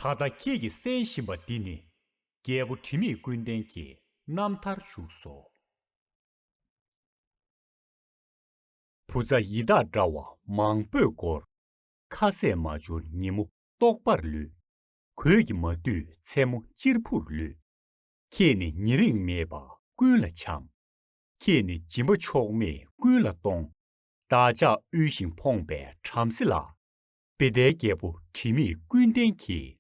ད་ལྟ་ཁྱེད་ཀྱིས་གསན་བཞིན་པ་འདི་ནི། རྒྱལ་པོ་དྲི་མེད་ཀུན་ལྡན་གྱི་རྣམ་ཐར་བཞུགས་སོ། བུ་བཙའ་ཡི་དྭགས་འདྲ་བ་མང་པོས་བསྐོར། ཁ་ཟས་མ་འབྱོར་ཉིན་མོ་ལྟོགས་པར་ལུས། གོས་ཀྱི་མ་བསྡུས་མཚན་མོ་གཅེར་བུར་ལུས། ཁྱེད་ནི་ཉེ་རིང་མེད་པ་ཀུན་ལ་བྱམས། ཁྱེད་ནི་སྦྱིན་པ་ཕྱོགས་མེད་ཀུན་ལ་གཏོང། བདག་ཅག་དབུལ་ཞིང་ཕོངས་པའི་བྲམ་ཟེ་ལ། དཔེ་ཟླའི་རྒྱལ་པོ་དྲི་མེད་ཀུན་ལྡན་གྱིས།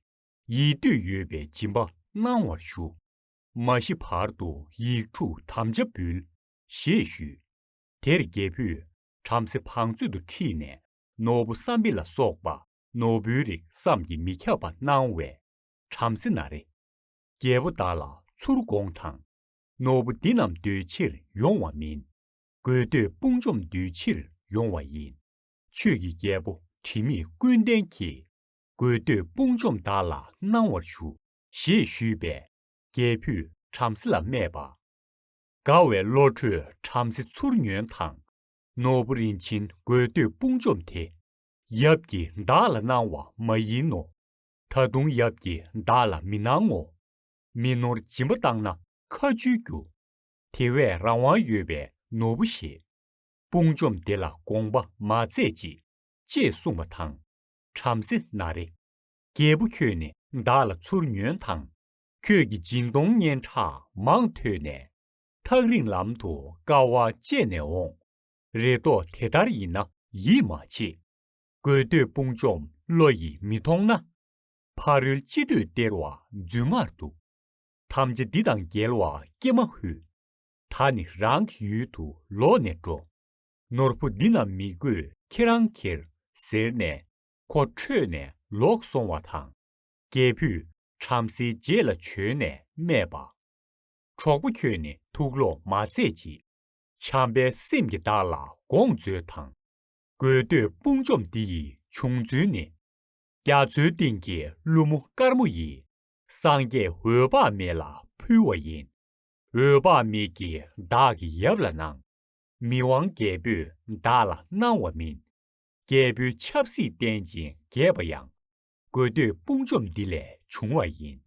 ཡིད་འདོད་ཡོད་པའི་སྦྱིན་པ་གནང་བར་ཞུ། མ་ཤི་བར་དུ་ཡིག་དྲུག་དམ་བཅའ་འབུལ། ཞེས་ཞུས། དེར་རྒྱལ་བུས་བྲམ་ཟེ་བང་མཛོད་དུ་ཁྲིད་ནས་ནོར་བུ་བསམ་འཕེལ་ལ་སོགས་པ་ནོར་བུའི་རིགས་བསམ་གྱིས་མི་ཁྱབ་པ་གནང་བས་བྲམ་ཟེ་ན་རེ། རྒྱལ་པོ་བདག་ལ་ཚུར་དགོངས་དང། ནོར་བུ་འདི་རྣམས་འདོད་ཕྱིར་ཡོང་བ་མིན། དགོས་འདོད་དཔུང་འཇོམས་འདུལ་ཕྱིར་ཡོང་བ་ཡིན། ཆོས་ཀྱི་རྒྱལ་པོ་དྲི་མེད་ཀུན་ལྡན་གྱིས། དགོས་འདོད་དཔུང་འཇོམས་བདག་ལ་གནང་བར་ཞུ། ཞེས་ཞུས་པས་རྒྱལ་བུས་བྲམ་ཟེ་ལ་སྨྲས་པ། དགའ་བའི་བློ་གྲོས་བྲམ་ཟེ་ཚུར་ཉོན་དང། ནོར་བུ་རིན་ཆེན་དགོས་འདོད་དཔུང་འཇོམས་དེ། ཡབ་ཀྱིས་བདག་ལ་གནང་བ་མ་ཡིན་ནོ། ད་དུང་ཡབ་ཀྱིས་བདག་ལ་མི་གནང་ངོ། མི་ནོར་སྦྱིན་པ་བཏང་ན་ཁ་འཇུས་རྒྱུ། དེ་བས་རང་དབང་ཡོད་པའི་ནོར་བུ་ཞེས། དཔུང་འཇོམས་བདེ་ལ་དགོངས་པ་མ་མཛད་ཅིག། ཅེས་གསུངས་པ་དང། བྲམ་ཟེ་ན་རེ། རྒྱལ་པོ་ཁྱོད་ནི་བདག་ལ་ཚུར་ཉོན་དང། ཁྱོད་ཀྱི་སྦྱིན་གཏོང་སྙན་གྲགས་མང་ཐོས་ནས། ཐག་རིང་ལམ་དུ་དཀའ་བ་སྤྱད་ནས་འོང། རེ་དོགས་དེ་ལྟར་ཡིན་ན་ཡིད་མ་ཆེས། དགོས་འདོད་དཔུང་འཇོམས་བློ་ཡིས་མི་མཐོང་ན། ཕ་རོལ་ཅི་འདོད་སྟེར་བ་རྫུན་མར་འདུག། ཐམས་ཅད་འདི་དང་འགལ་བ་ཀྱེ་མ་ཧུད། ད་ནི་རང་གི་ཡུལ་དུ་ལོག་ནས་འགྲོ། ནོར་བུ་འདི་རྣམས་མི་དགོས་ཁྱེད་རང་ཁྱེར། ཟེར་ནས་ཁོ་ཁྲོས་ནས་ལོག་སོང་བ་དང། རྒྱལ་བུས་བྲམ་ཟེའི་རྗེས་ལ་བྱོན་ནས་སྨྲས་པ། གྲོགས་པོ་ཁྱོད་ནི་ཐུགས་ལོག་མ་མཛད་ཅིག། བྱམས་པའི་སེམས་ཀྱིས་བདག་ལ་དགོངས་མཛོད་དང། དགོས་འདོད་དཔུང་འཇོམས་འདི་ཡི་བྱུང་ཚུལ་ནི། རྒྱ་མཚོའི་གཏིང་གི་ཀླུ་མོ་དཀར་མོ་ཡིས། སངས་རྒྱས་འོད་དཔག་མེད་ལ་ཕུལ་བ་ཡིན། འོད་དཔག་མེད་ཀྱིས་བདག་གི་ཡབ་ལ་གནང། མི་དབང་རྒྱལ་པོས་བདག་ལ་གནང་བ་མིན། རྒྱལ་པོའི་ཆབ་སྲིད་བསྟན་ཅིང་རྒྱས་པ་ཡང། དགོས་འདོད་དཔུང་འཇོམས་འདི་ལས་བྱུང་བ་ཡིན།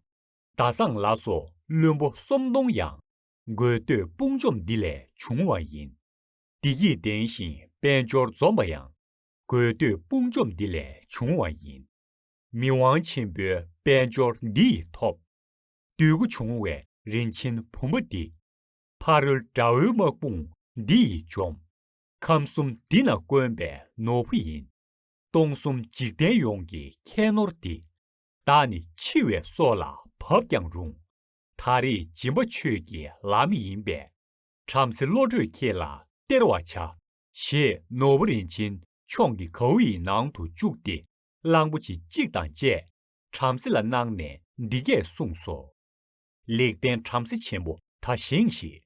ཟླ་བཟང་ལ་སོགས་བློན་པོ་སོམ་སྡོང་ཡང། དགོས་འདོད་དཔུང་འཇོམས་འདི་ལས་བྱུང་བ་ཡིན། བདེ་སྐྱིད་ལྡན་ཞིང་དཔལ་འབྱོར་འཛོམས་པ་ཡང། དགོས་འདོད་དཔུང་འཇོམས་འདི་ལས་བྱུང་བ་ཡིན། མི་དབང་ཆེན་པོའི་དཔལ་འབྱོར་འདི་ཡིས་ཐོབ། འདོད་དགུ་འབྱུང་བའི་རིན་ཆེན་བུམ་པ་འདི། ཕ་རོལ་དགྲ་བོའི་དམག་དཔུང་འདི་ཡིས་འཇོམས། ཁམས་གསུམ་འདི་ན་དཀོན་པའི་ནོར་བུ་ཡིན། སྟོང་གསུམ་འཇིག་རྟེན་ཡོངས་ཀྱི་ཁྱད་ནོར་འདི། བདག་ནི་འཆི་བའི་སྲོག་ལ་བབ་ཀྱང་རུང། ད་རེས་སྦྱིན་པ་ཆོས་ཀྱི་ལམ་ཡིན་པས། བྲམ་ཟེ་བློ་གྲོས་ཁྱེད་ལ་སྟེར་བར་བྱ། ཞེས་ནོར་བུ་རིན་ཆེན་མཆོག་འདི་གའུ་ཡི་ནང་དུ་བཅུག་སྟེ་གླང་པོ་ཆེ་གཅིག་དང་བཅས་བྲམ་ཟེ་ལ་གནང་ནས་འདི་སྐད་གསུངས་སོ། ལེགས་ལྡན་བྲམ་ཟེ་ཆེན་པོ་ད་བཞེངས་ཤིག།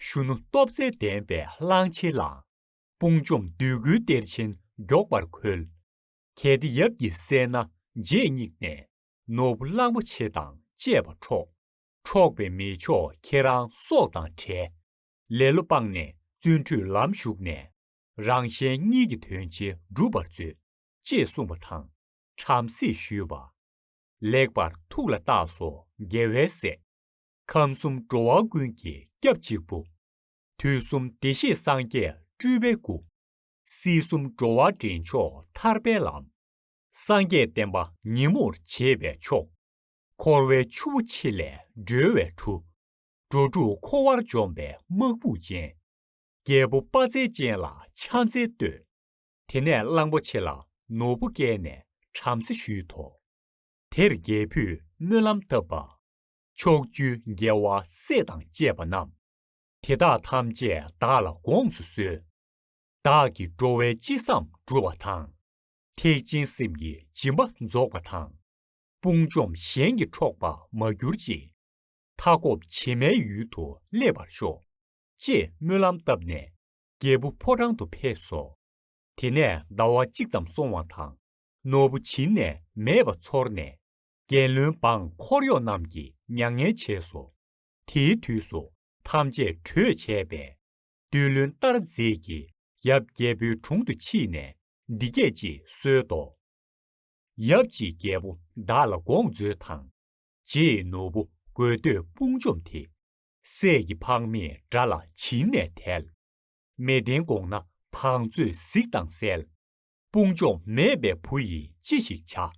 གཞོན་ནུ་སྟོབས་རྩལ་ལྡན་པས་གླང་ཆེན་བླངས། དཔུང་འཇོམས་བདུད་དགུའི་གཏེར་ཆེན་མགྱོགས་པར་ཁོལ། གལ་ཏེ་ཡབ་ཀྱི་སྲས་ན་རྗེས་སྙེགས་ནས། ནོར་བུ་གླང་པོ་ཆེ་དང་བཅས་པ་འཕྲོག། འཕྲོག་པའི་མེ་མཆོག་ཁྱེད་རང་སྲོག་དང་བྲལ། ལེ་ལོ་སྤངས་ནས་བརྩོན་འགྲུས་ལམ་ཞུགས་ནས། རང་གཞན་གཉིས་ཀྱི་དོན་ཆེན་འགྲུབ་པར་མཛོད། ཅེས་གསུངས་པ་དང། བྲམ་ཟེས་ཞུས་པ། ལེགས་པར་ཐུགས་ལ་བཏགས་སོ་རྒྱལ་བའི་སྲས། ཁམས་གསུམ་འགྲོ་བ་ཀུན་གྱི་སྐྱབས་གཅིག་པུ། དུས་གསུམ་བདེ་གཤེགས་སངས་རྒྱས་སྤྲུལ་པའི་སྐུ། སྲིད་གསུམ་འགྲོ་བ་འདྲེན་མཆོག་ཐར་པའི་ལམ། སངས་རྒྱས་བསྟན་པ་ཉིན་མོར་བྱེད་པའི་མཆོག། འཁོར་བའི་ཆུ་བོ་ཆེ་ལས་སྒྲོལ་བའི་གྲུ། འགྲོ་དྲུག་འཁོར་བར་འཇོམས་པའི་དམག་དཔུང་ཅན། རྒྱལ་པོ་དཔའ་རྩལ་ཅན་ལ་ཕྱག་འཚལ་བསྟོད། དེ་ནས་གླང་པོ་ཆེ་ལ་ནོར་བུ་བཀལ་ནས་བྲམ་ཟེ་ཞུས་དོ། དེར་རྒྱལ་བུས་སྨོན་ལམ་བཏབ་པ། ཕྱོགས་བཅུའི་རྒྱལ་བ་སྲས་དང་བཅས་པ་རྣམས། དེ་དག་ཐམས་ཅད་བདག་ལ་དགོངས་སུ་གསོལ། བདག་གི་འགྲོ་བའི་ཅི་བསམ་འགྲུབ་པ་དང། ཐེག་ཆེན་སེམས་ཀྱི་སྦྱིན་པ་རྫོགས་པ་དང། དཔུང་འཇོམས་གཞན་གྱི་འཕྲོག་པ་མ་གྱུར་ཅིག། མཐའ་འཁོབ་བྱེ་མའི་ཡུལ་དུ་སླེབ་པར་ཤོག། ཅེས་སྨོན་ལམ་བཏབ་ནས། རྒྱལ་པོ་ཕོ་བྲང་དུ་ཕེབས་སོ། དེ་ནས་ཟླ་བ་གཅིག་ཙམ་སོང་བ་དང། ནོར་བུ་བྱིན་ནས་མེད་པ་ཚོར་ནས། རྒྱལ་བློན་འབངས་འཁོར་གཡོག་རྣམས་ཀྱིས་མྱ་ངན་བྱས་སོ། དེའི་དུས་སུ་ཐམས་ཅད་གྲོས་བྱས་པས། བདུད་བློན་ཏར་རྫས་ཀྱིས་ཡབ་རྒྱལ་པོའི་དྲུང་དུ་མཆིས་ནས་འདི་སྐད་ཅེས་གསོལ་ཏོ། ཡབ་ཅིག་རྒྱལ་པོ་བདག་ལ་དགོངས་མཛོད་དང། རྗེས་ནོར་བུ་དགོས་འདོད་དཔུང་འཇོམས་དེ། སྲས་ཀྱི་འཕགས་མས་དགྲ་ལ་བྱིན་ནས་ཐལ། མས་བརྟན་དགོངས་ན་བང་མཛོད་གཟིགས་དང་གསལ། དཔུང་འཇོམས་མེད་པའི་བུ་ཡིས་ཅི་ཞིག་བྱ།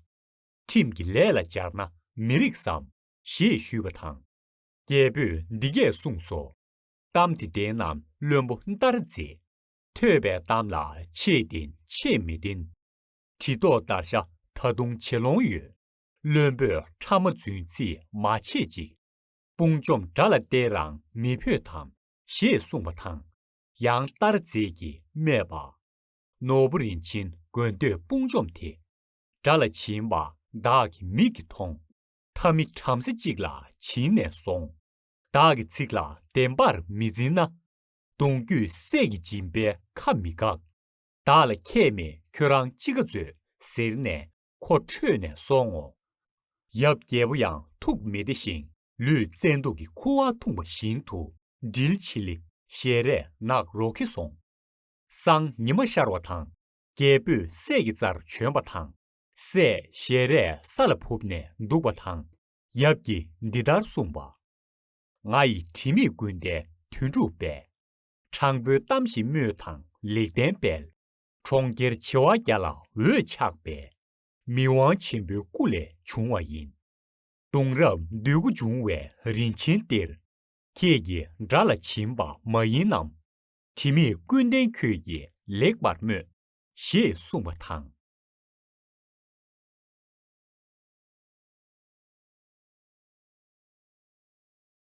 ཁྲིམས་ཀྱི་ལས་ལ་སྦྱར་ན་མི་རིགས་སམ། ཞེས་ཞུས་པ་དང། རྒྱལ་པོས་འདི་སྐད་གསུངས་སོ། གཏམ་དེ་བདེན་ནམ་བླུན་པོ་ལྟར་མཛེས། ཐོས་པའི་གཏམ་ལ་ཆེས་བདེན་ཆེས་མི་བདེན། གྲི་ཐོགས་བརྡར་ཤ་ད་དུང་བྱེད་ལོང་ཡོད། བླུན་པོས་ཕྲ་མ་རྫུན་ཚིག་མ་བྱེད་ཅིག། དཔུང་འཇོམས་དགྲ་ལ་བསྟེན་རང་མི་ཕོད་དམ། ཞེས་གསུངས་པ་དང། ཡང་ལྟར་རྫས་ཀྱིས་སྨྲས་པ། ནོར་བུ་རིན་ཆེན་དགོས་འདོད་དཔུང་འཇོམས་དེ། དགྲ་ལ་བྱིན་པ་བདག་གི་མིག་གིས་མཐོང། ཐབས་མི་བྲམ་ཟེ་གཅིག་ལ་བྱིན་ནས་སོང། བདག་གི་ཚིག་ལ་བདེན་པར་མི་འཛིན་ན། གདུང་བརྒྱུད་སྲས་ཀྱི་སྦྱིན་པའི་ཁ་མི་འགག། བདག་ལ་ཁྱད་མེད་ཁྱོད་རང་ཅི་དགའ་མཛོད། ཟེར་ནས་ཁོ་ཁྲོས་ནས་སོང་ངོ། ཡབ་རྒྱལ་པོ་ཡང་ཐུགས་མི་བདེ་ཞིང་ལུས་བཙན་སྡུག་གི་ཁུ་བ་འཐུངས་པ་བཞིན་དུ་འདྲིལ་ཆིལ་ལི་ཞེས་རས་ནག་རོ་གེ་སོང། སང་ཉི་མ་ཤར་བ་དང་རྒྱལ་པོས་སྲས་ཀྱི་རྩར་བྱོན་པ་དང། སྲས་ཞལ་རས་ས་ལ་ཕུབ་ནས་འདུག་པ་དང། ཡབ་ཀྱིས་འདི་ལྟར་གསུངས་པ། ང་ཡི་དྲི་མེད་ཀུན་ལྡན་དོན་གྲུབ་པས། དྲང་པོའི་གཏམ་ཞིག་སྨྲོས་དང་ལེགས་ལྡན་དཔལ། གྲོང་ཁྱེར་བྱེ་བ་བརྒྱ་ལ་འོད་ཆགས་པས། མི་དབང་ཆེན་པོའི་སྐུ་ལས་བྱུང་བ་ཡིན། གདུང་རབས་འདོད་དགུ་འབྱུང་བའི་རིན་ཆེན་གཏེར། ཁྱེད་ཀྱི་དགྲ་ལ་བྱིན་པ་མ་ཡིན་ནམ། དྲི་མེད་ཀུན་ལྡན་ཁྱོད་ཀྱིས་ལེགས་པར་སྨོས། ཞེས་གསུངས་པ་དང།